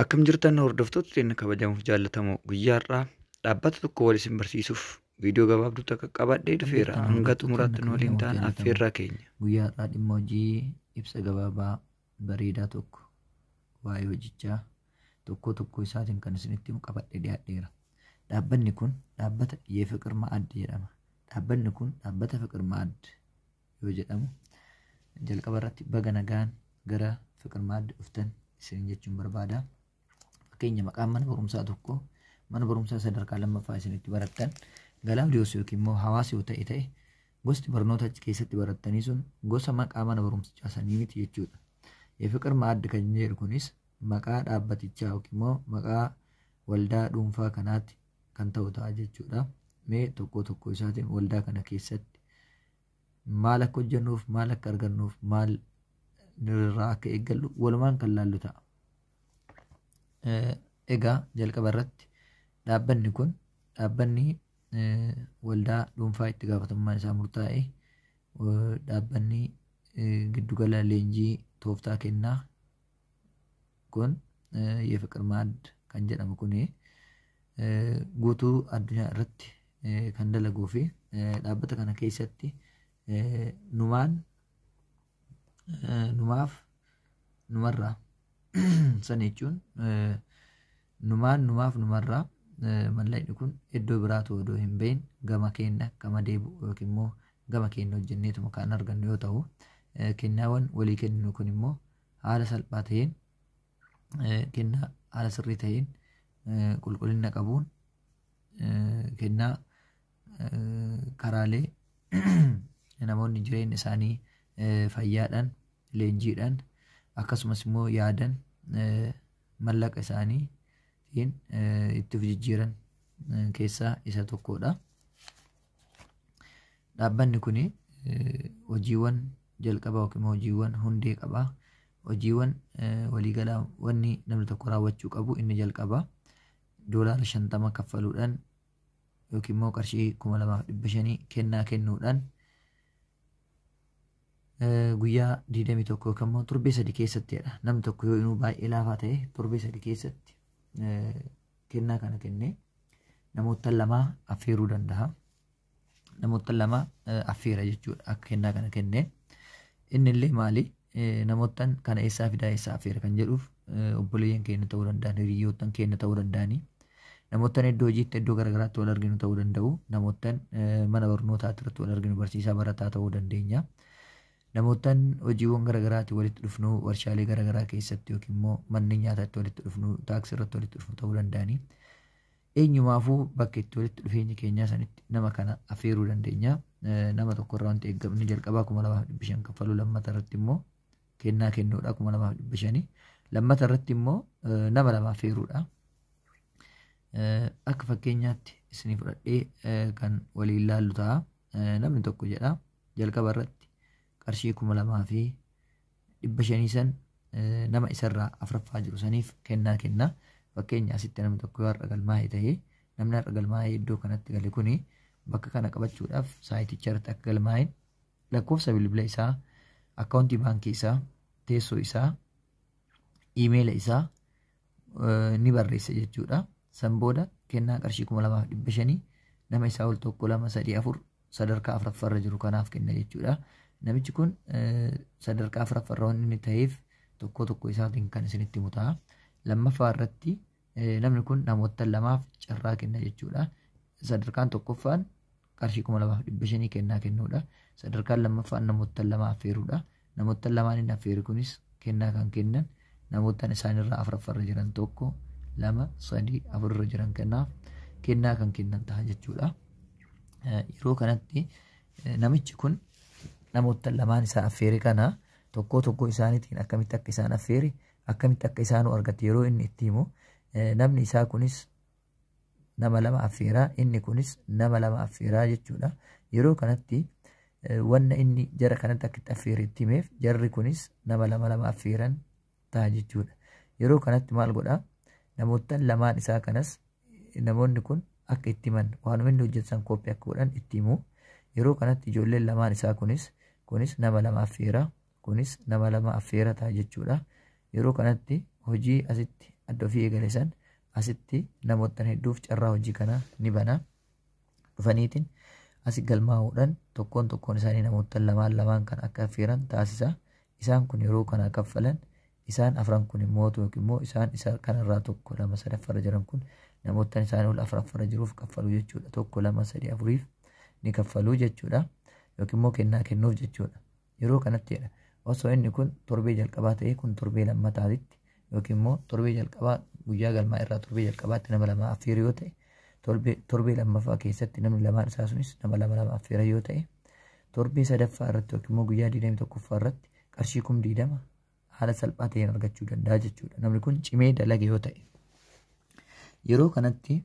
Akkam jirtan hordoftoota keenya kabajamuuf jaallatamoo guyyaa har'aa dhaabbata tokko wal isin barsiisuuf viidiyoo gabaabduu takka qabadhee dhufeera hanga xumuraatti nu waliin ta'an affeerraa keenya. Guyyaa har'aa dhimma hojii ibsa gabaabaa bareedaa tokko waa'ee hojichaa tokkoo tokkoo isaatiin kan isinitti qabadhee dhiyaadheera. Dhaabbanni kun dhaabbata Yeefiqir Ma'ad jedhama. Dhaabbanni kun dhaabbata Fiqir Ma'ad yoo jedhamu jalqaba irratti baga nagaan gara fiqir maaddi dhuftan isin jechuun barbaada. Fakkeenya maqaan mana barumsaa tokko mana barumsaa sadarkaa lammaffaa isinitti barattan galaadiyoos yookiin immoo hawaasa yoo ta'e ta'e gosti barnoota achi keessatti barattanii sun gosa maqaa mana barumsichaa sanii miti jechuudha. Fiqir maaddi kan jedhu kunis maqaa dhaabbatichaa yookiin immoo maqaa waldaa dhuunfaa kanaatti kan ta'u ta'a jechuudha. Mee tokko tokko isaatiin waldaa kana keessatti maal akka hojjennuuf maal akka argannuuf maal irraa akka eeggallu walumaan kan laallu ta'a. Egaa jalqaba irratti dhaabbanni kun dhaabbanni waldaa dhuunfaa itti gaafatamummaan isaa murtaa'e dhaabbanni giddugala leenjii tooftaa kennaa kun የፍቅር ማዕድ kan jedhamu kun guutuu addunyaa irratti kan dalaguu fi dhaabbata kana keessatti numaan numaaf numarraa san jechuun numaan numaaf numarraa mallaqni kun iddoo biraatu odoo hin bahin gama keenya gama deebi'u yookiin immoo gama keenya hojjenneetuma kan argannu yoo ta'u kennaawwan walii kenninu kun immoo haala salphaa ta'een kennaa haala sirrii ta'een qulqullina qabuun kennaa karaalee namoonni jireenya isaanii fayyaadhaan leenjiidhaan akkasumas immoo yaadan mallaqa isaanii ittiin itti of jijjiiran keessaa isa tokkodha. Dhaabbanni kun hojiiwwan jalqabaa yookiin hojiiwwan hundee qaba. Hojiiwwan waliigalaa wanni namni tokko raawwachuu qabu inni jalqabaa doolaara shantama kaffaluudhaan yookiin immoo qarshii kuma lamaaf dhibba shanii kennaa kennuudhaan guyyaa 21 yookiin immoo torbee sadii keessattidha. Namni tokko yoo inuu baay'ee laafaa ta'e torbee sadii keessatti kennaa kana kennee namoota lamaa affeeruu danda'a. Namoota lama affeera jechuudha akka kennaa kana kennee. Inni illee maali? Namoota kana eessaa fidaa eessaa affeera kan jedhuuf obboleeyyan keenya ta'uu danda'an hiriyyootan keenya ta'uu danda'anii. Namoota iddoo hojiitti iddoo garaagaraatti wal arginu ta'uu danda'u. Namoota mana barnootaatti irratti wal arginu barsiisaa barataa ta'uu dandeenya. Namoottan hojiiwwan garagaraati walitti dhufnu, warshaalee garagaraa keessatti yookiin immoo manneen nyaataa itti walitti dhufnu, taaksii irratti walitti dhufnu ta'uu danda'anii. Eenyumaafuu bakka itti walitti dhufeenyi keenyaa sanitti nama kana affeeruu dandeenya. Nama tokko irraa wanti eeggamni jalqabaa kuma lamaaf dhibba shan kaffaluu lammata irratti immoo kennaa kennuudha kuma lamaaf dhibba shanii. Lammata irratti immoo nama lama affeeruudha. Akka fakkeenyaatti isinii fudhadhee kan waliin laallu ta'a. Namni tokko jedha jalqaba irratti qarshii kuma lamaa fi dhibba shanii san nama isarraa afraffaa jiru saniif kennaa kenna. Fakkeenya asitti namni tokko yoo har'a galmaa'e ta'e namni har'a galmaa'ee iddoo kanatti gale kuni bakka kana qabachuudhaaf saayiticha irratti akka galmaa'e lakkoofsa bilbila isaa, akkaawuntii baankii isaa, teessoo isaa, iimeela isaa ni barreessa jechuudha. San booda kennaa qarshii kuma lamaaf dhibba shanii nama isaa ol tokko lama sadii afur sadarkaa afuraffaarra jiru kanaaf kenna jechuudha. Namichi kun sadarkaa afuraffaarra waan inni ta'eef tokkoo tokko isaatiin kan isinitti himu ta'a. Lammaffaa irratti namni kun namoota lamaaf carraa kenna jechuudha. Sadarkaan tokkoffaan qarshii kuma lamaaf dhibba shanii kennaa kennuudha. Sadarkaan lammaffaan namoottan lama affeeruudha. Namoottan lamaan inni affeere kunis kennaa kan kennan namoottan isaanirraa afuraffarra jiran tokko lama sadii afurra jiran kanaaf kennaa kan kennan ta'a jechuudha. Yeroo kanatti namichi kun namoottan lamaan isaa affeere kana tokkoo tokkoo isaaniitiin akkamitti akka isaan affeere akkamitti akka isaanuu argate yeroo inni itti himu namni isaa kunis nama lama affeeraa inni kunis nama lama affeeraa jechuudha yeroo kanatti wanna inni jara kanatti akka itti affeere itti himeef jarri kunis nama lama lama affeeran ta'a jechuudha yeroo kanatti maal godhaa namoottan lamaan isaa kanas namoonni kun akka itti himan waanuma inni hojjetan kooppii akka godhan itti himu yeroo kanatti ijoolleen lamaan isaa kunis kunis nama lama affeeraa Kunis nama lama affeera ta'a jechuudha. Yeroo kanatti hojii asitti adda ofii eegale san asitti namoottan hedduuf carraa hojii kana ni bana. Dhufaniitiin asi galmaa'uudhaan tokkoon tokkoon isaanii namoottan lamaan lamaan kan akka affeeran taasisa. Isaan kun yeroo kana kaffalan isaan afran kun immoo yookiin immoo isaan isa kanarraa tokko lama sadaffarra jiran kun namoottan isaanii ol afraffarra jiruuf kaffalu jechuudha. Tokko lama sadii afuriif ni kaffalu jechuudha. Yookiin immoo kennaa kennuuf jechuudha. Yeroo kanatti jedha osoo inni kun torbee jalqabaa ta'ee kun torbee lammataatitti yookiin immoo torbee jalqabaa guyyaa galmaa irraa torbee jalqabaatti nama lama affeeru yoo ta'e torbee torbee lammaffaa keessatti namni lamaan isaa sunis nama lama lama affeera yoo ta'e torbee sadaffaa irratti yookiin immoo guyyaa 21ffaa irratti qarshii kum 20 haala salphaa ta'een argachuu danda'a jechuudha. Namni kun cimee dalage yoo ta'e. Yeroo kanatti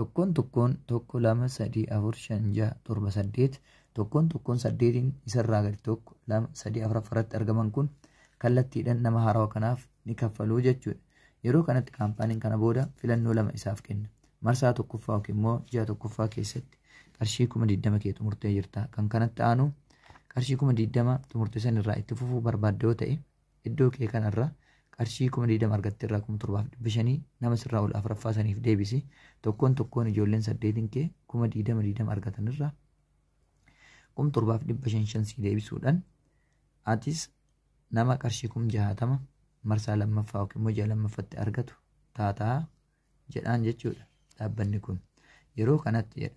tokkoon tokkoon tokko lama sadii afur shan jaha torba saddeet tokkoon tokkoon saddeetiin isarraa gadi tokko lama sadii afuraffaa irratti argaman kun kallattiidhaan nama haarawa kanaaf ni kaffaluu jechuudha. Yeroo kanatti kaampaaniin kana booda filannoo lama isaaf kenna. Marsaa tokkoffaa yookiin immoo ji'a tokkoffaa keessatti qarshii kuma digdama kee xumurtee jirta. Kan kanatti aanu qarshii kuma digdama xumurtee sanirraa itti fufuu barbaadda yoo ta'e Iddoo kee kana irra qarshii 20,000 argatte irraa 7,500 nama sirraa ol afraffaa saniif deebisi. Tokkoon tokkoon ijoolleen saddeetin kee 20,000 20 argatan irraa 7,500 sii deebisuudhaan atis nama qarshii 60,000 marsaa lammaffaa yookiin immoo ji'a lammaffatti argatu taataa jedhaan jechuudha dhaabbanni kun. Yeroo kanatti jedha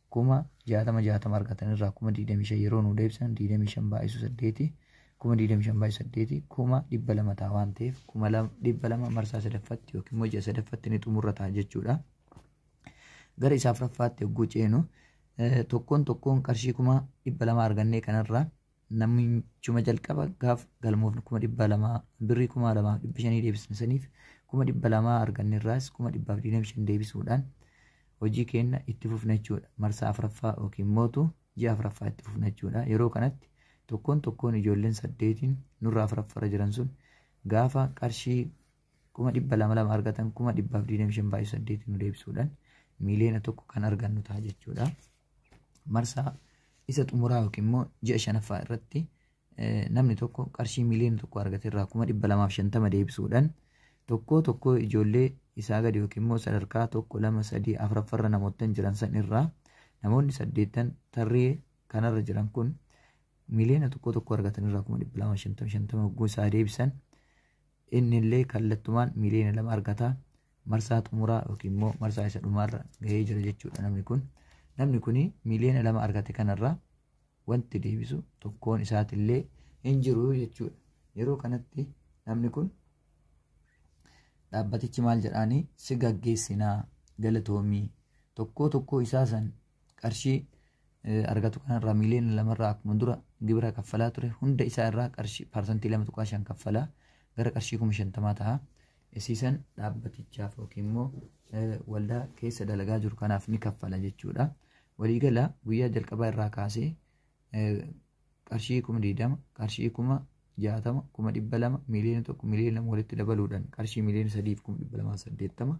kuma jaatama jaatama argatan irraa kuma digdamii shan yeroo nuu deebisan digdamii shan baay'isu saddeeti kuma digdamii shan baay'isu saddeeti kuma dhibba lama ta'a waan ta'eef kuma dhibba lama marsaa sadaffatti yookiin immoo ji'a sadaffatti ni xumurra ta'a jechuudha. Gara isaa afuraffaatti yogguu ceenu tokkoon tokkoon qarshii kuma dhibba lama argannee kanarraa namichuma jalqaba gaaf galmoofne kuma dhibba lamaa birrii kuma lamaa dhibba shanii deebisne saniif kuma dhibba lamaa arganne irraas kuma dhibbaaf digdamii shan deebisuudhaan hojii keenya itti fufna jechuudha. Marsaa afraffaa yookiin mootu ji'a afraffaa itti fufna jechuudha. Yeroo kanatti tokkoon tokkoon ijoolleen saddeetiin nurraa afraffarra jiran sun gaafa qarshii kuma dhibba lama lama argatan kuma dhibbaaf digdamii shan baay'ee saddeetiin nu deebisuudhaan miiliyoona tokko kan argannu ta'a jechuudha. Marsaa isa xumuraa yookiin immoo ji'a shanaffaa irratti namni tokko qarshii miiliyoona tokko argate irraa kuma dhibba lamaaf shantama deebisuudhaan tokkoo tokkoo ijoollee isaa gadi yookiin immoo sadarkaa tokko lama sadii afuraffarra namoottan jiran san irraa namoonni saddeettan tarree kanarra jiran kun miiliyoona tokko tokko argatan irraa kuma dhibba lama shantama shantama hogguu isaa deebisan Innillee kallattumaan miiliyoona lama argata. Marsaa xumuraa yookiin immoo marsaa isa dhumaarra gahee jira jechuudha namni kun. Namni kun miiliyoona lama argate kanarraa wanti deebisu tokkoon isaatillee hin jiru jechuudha. Yeroo kanatti namni kun dhaabbatichi maal jedhaanii si gaggeessinaa galatoomii tokkoo tokkoo isaa san qarshii argatu kanarraa miiliyoona lamarraa akkuma dura gibira kaffalaa ture hunda isaa irraa qarshii paarsantii lama tuqaa shan kaffalaa gara qarshii kuma shantamaa ta'a. Isiisan dhaabbatichaaf yookiin immoo waldaa keessa dalagaa jiru kanaaf ni kaffala jechuudha. Waliigala guyyaa jalqabaa irraa kaasee qarshii kuma digdama qarshii kuma jaatama kuma dhibba lama miiliyoona tokko miiliyoona lama walitti dabaluudhaan qarshii miiliyoona sadiif kuma dhibba lamaa saddeettama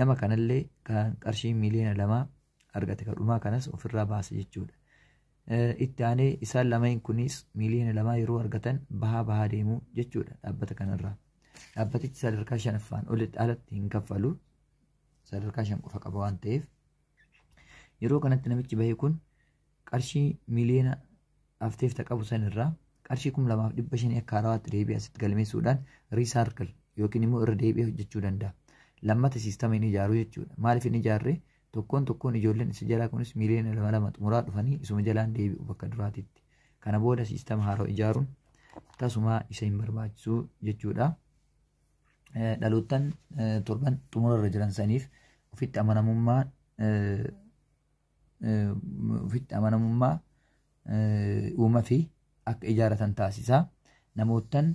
Nama kanallee kan qarshii miiliyoona lamaa argate kan dhumaa kanas ofirraa baasa jechuudha. Itti aanee isaan lameen kunis miiliyoona lamaa yeroo argatan bahaa bahaa deemu jechuudha dhaabbata kanarraa. Dhaabbatichi sadarkaa shanaffaan olitti alatti hin kaffalu. Sadarkaa shan qofa qaba waan ta'eef. Yeroo kanatti namichi bahee kun qarshii miliyoona hafteef ta qabu san irraa qarshii kum lamaaf dhibba shanii akka haarawaatti deebi'ee asitti galmeessuudhaan riisaarkil yookiin immoo irra deebi'ee hojjechuu danda'a. Lammata siistama hin ijaaruu jechuudha. Maaliif hin ijaarre tokkoon tokkoon ijoolleen isa jalaa kunis miliyoona lama lama xumuraa dhufanii isuma jalaan deebi'u bakka duraatitti. Kana booda siistama haarawa ijaaruun tasumaa isa hin barbaachisu jechuudha. Dhaloottan torban xumura irra jiran saniif ofitti amanamummaa ofitti amanamummaa uuma fi akka ijaaratan taasisa. Namoottan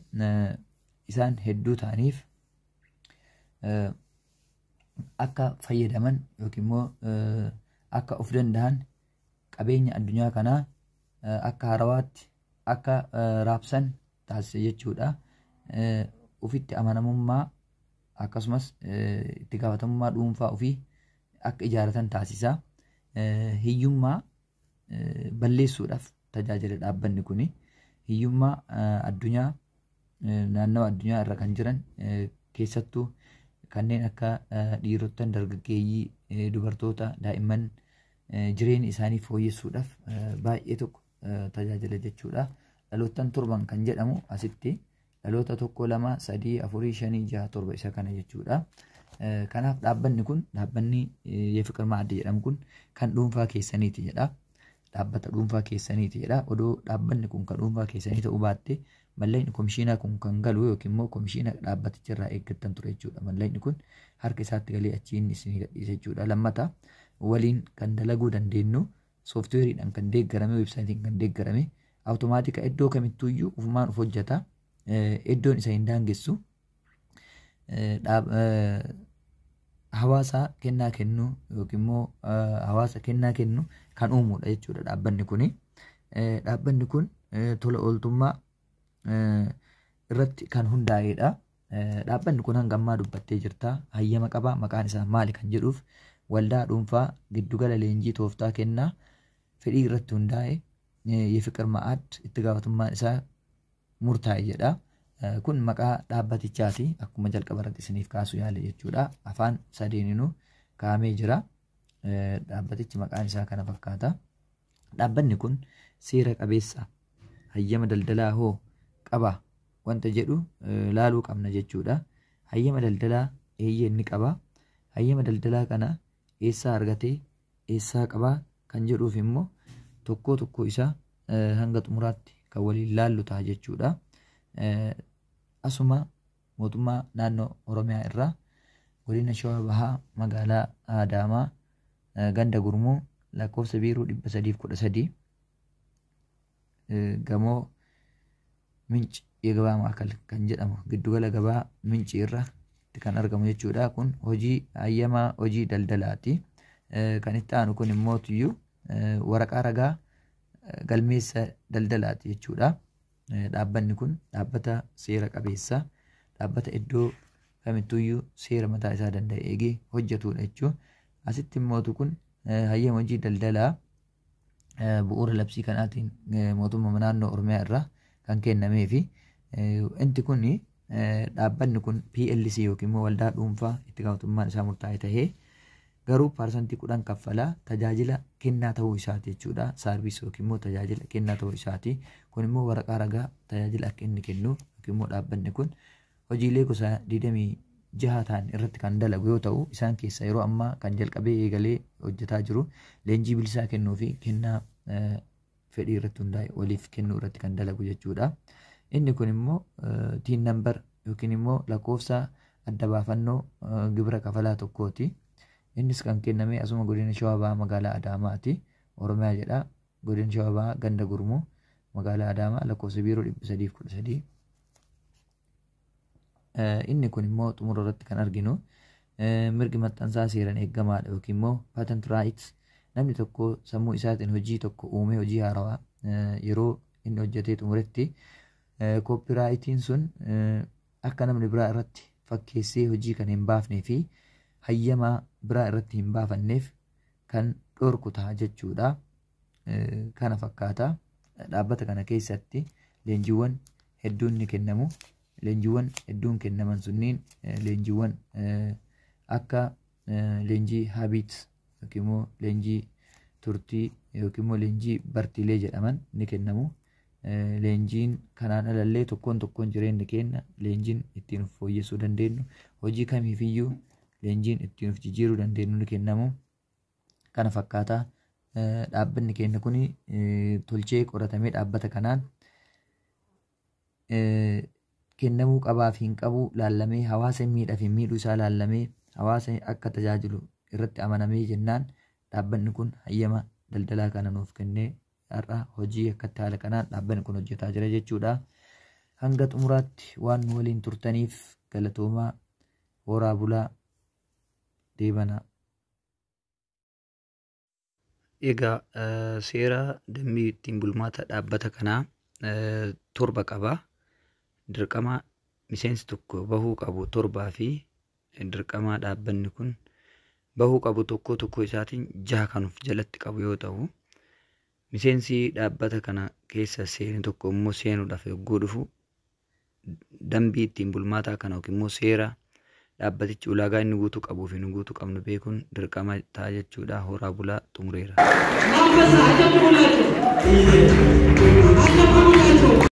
isaan hedduu ta'aniif akka fayyadaman yookiin immoo akka of danda'an qabeenya addunyaa kanaa akka harawaatti akka raabsan taasisa jechuudha. Ofitti amanamummaa akkasumas itti gaafatamummaa dhuunfaa ofii akka ijaaratan taasisa. Hiyyummaa balleessuudhaaf tajaajila dhaabbanni kun hiyyummaa addunyaa naannawa addunyaa irra kan jiran keessattuu kanneen akka dhiirottan dargaggeeyyii dubartoota daa'imman jireenya isaanii fooyyessuudhaaf baay'ee tokko tajaajila jechuudha. Dhaloottan torban kan jedhamu asitti Dhaloota tokko lama sadii afurii shanii jaha torba isa kana jechuudha. Kanaaf dhaabbanni kun dhaabbanni Yefiqir Maaddi jedhamu kun kan dhuunfaa keessaniiti jedha. Dhaabbata dhuunfaa keessaniiti jedha. Odoo dhaabbanni kun kan dhuunfaa keessanii ta'uu baatte malleen komishiinaa kun kan galu yookiin immoo komishiina dhaabbaticha irraa eeggattan ture jechuudha. Malleen kun harka isaatti galee achiin isin gadhiisa jechuudha. Lammata waliin kan dalaguu dandeenyu sooftiweeriidhaan kan deeggarame weebsaayitiin kan deeggarame awutomaatika iddoo kamittuu iyyuu ufumaan of hojjeta iddoon isa hin daangessu hawaasa kennaa kennu yookiin immoo hawaasa kennaa kennu kan uumudha jechuudha dhaabbanni kun. Dhaabbanni kun tola ooltummaa irratti kan hundaa'edha. Dhaabbanni kun hanga ammaa dubbattee jirta hayyama qaba maqaan isaa maali kan jedhuuf waldaa dhuunfaa giddugala leenjii tooftaa kennaa fedhii irratti hundaa'e የፍቅር ማዕድ itti gaafatamummaan isaa murtaa'e jedha. Kun maqaa dhaabbatichaati akkuma jalqaba irratti isiniif kaasuu yaale jechuudha. Afaan sadeeninuu kaa'amee jira. Dhaabbatichi maqaan isaa kana fakkaata. Dhaabbanni kun seera qabeessa hayyama daldalaa hoo qaba? wanta jedhu laaluu qabna jechuudha. Hayyama daldalaa eeyyee inni qaba. Hayyama daldalaa kana eessaa argatee eessaa qabaa kan jedhuuf immoo tokkoo tokkoo isaa hanga xumuraatti kan waliin laallu ta'a jechuudha. Asuma mootummaa naannoo Oromiyaa irraa godina Shawaa Bahaa magaalaa Adaamaa ganda gurmuu lakkoofsa biiroo 313 gamoo minci የገበያ ማዕከል kan jedhamu giddugala gabaa minci irra kan argamu jechuudha kun hojii hayyamaa hojii daldalaati kan itti aanu kun immoo tuyyu waraqaa ragaa galmeessa daldalaati jechuudha dhaabbanni kun dhaabbata seera qabeessa dhaabbata iddoo kamittuyyuu seera mataa isaa danda'e eegee hojjetudha jechuudha asitti immoo kun hayyama hojii daldalaa bu'uura labsii kanaatiin mootummaa naannoo Oromiyaa irraa kan kennamee fi inti kun dhaabbanni kun PLC yookiin immoo waldaa dhuunfaa itti gaafatamummaan isaa murtaa'e tahee garuu paarsantii kudhan kaffalaa tajaajila kennaa ta'uu isaati jechuudha. Saarviis yookiin immoo tajaajila kennaa ta'uu isaati. Kun immoo waraqaa ragaa tajaajila akka inni kennu yookiin immoo dhaabbanni kun Hojiilee gosa 26 ta'an irratti kan dalagu yoo ta'u, isaan keessaa yeroo ammaa kan jalqabee eegalee hojjetaa jiru leenjii bilisaa kennuu fi kennaa fedhii irratti hundaa'e waliif kennuu irratti kan dalagu jechuudha. Inni kun immoo tiin nambar yookiin immoo lakkoofsa adda baafannoo gibira kafalaa tokkooti. Innis kan kenname asuma godina Shawaa Bahaa magaalaa Adaamaati. Oromiyaa jedha. Godina Shawaa Bahaa Ganda Gurmuu magaalaa Adaamaa lakkoofsa biiroo 313. Inni kun immoo xumura irratti kan arginu mirgi maxxansaa seeraan eegamaadha yookiin immoo patent rights namni tokko sammuu isaatiin hojii tokko uumee hojii haarawaa yeroo inni hojjetee xumuretti koopiraayitiin sun akka namni biraa irratti fakkeessee hojii kan hin baafnee fi hayyamaa biraa irratti hin baafanneef kan dhorku ta'a jechuudha. Kana fakkaata dhaabbata kana keessatti leenjiiwwan hedduun ni kennamu. Leenjiiwwan hedduun kennaman sunniin leenjiiwwan akka leenjii habiit yookiin immoo leenjii turtii yookiin immoo leenjii bartiilee jedhaman ni kennamu. Leenjiin kanaan alallee tokkoon tokkoon jireenya keenya leenjiin ittiin of fooyyessuu dandeenyu hojii kamiifiyyuu leenjiin ittiin of jijjiiruu dandeenyu ni kennamu. Kana fakkaata dhaabbanni keenya kun tolchee qoratamee dhaabbata kanaan kennamuu qabaa fi hin qabu laallamee hawaasa miidhaa fi miidhuu isaa laallamee hawaasa akka tajaajilu irratti amanamee jennaan dhaabbanni kun hayyama daldalaa kana nuuf kennee har'a hojii akkatti haala kanaan dhaabbanni kun hojjetaa jira jechuudha. Hanga xumuraatti waan nu waliin turtaniif galatoomaa horaa bulaa deebanaa. Egaa eh, seera dambii ittiin bulmaata dhaabbata kanaa eh, torba qaba. Dirqama miseensi tokko bahuu qabu torbaa fi dirqamaa dhaabbanni kun bahuu qabu tokkoo tokkoo isaatiin jaha kan of jalatti qabu yoo ta'u, miseensi dhaabbata kana keessa seene tokko immoo seenuudhaaf yogguu dhufu dambii ittiin bulmaataa kana yookiin immoo seera dhaabbatichi ulaagaa inni guutuu qabuu fi nu guutuu qabnu beekuun dirqama ta'a jechuudha. Horaa bulaa xumureera.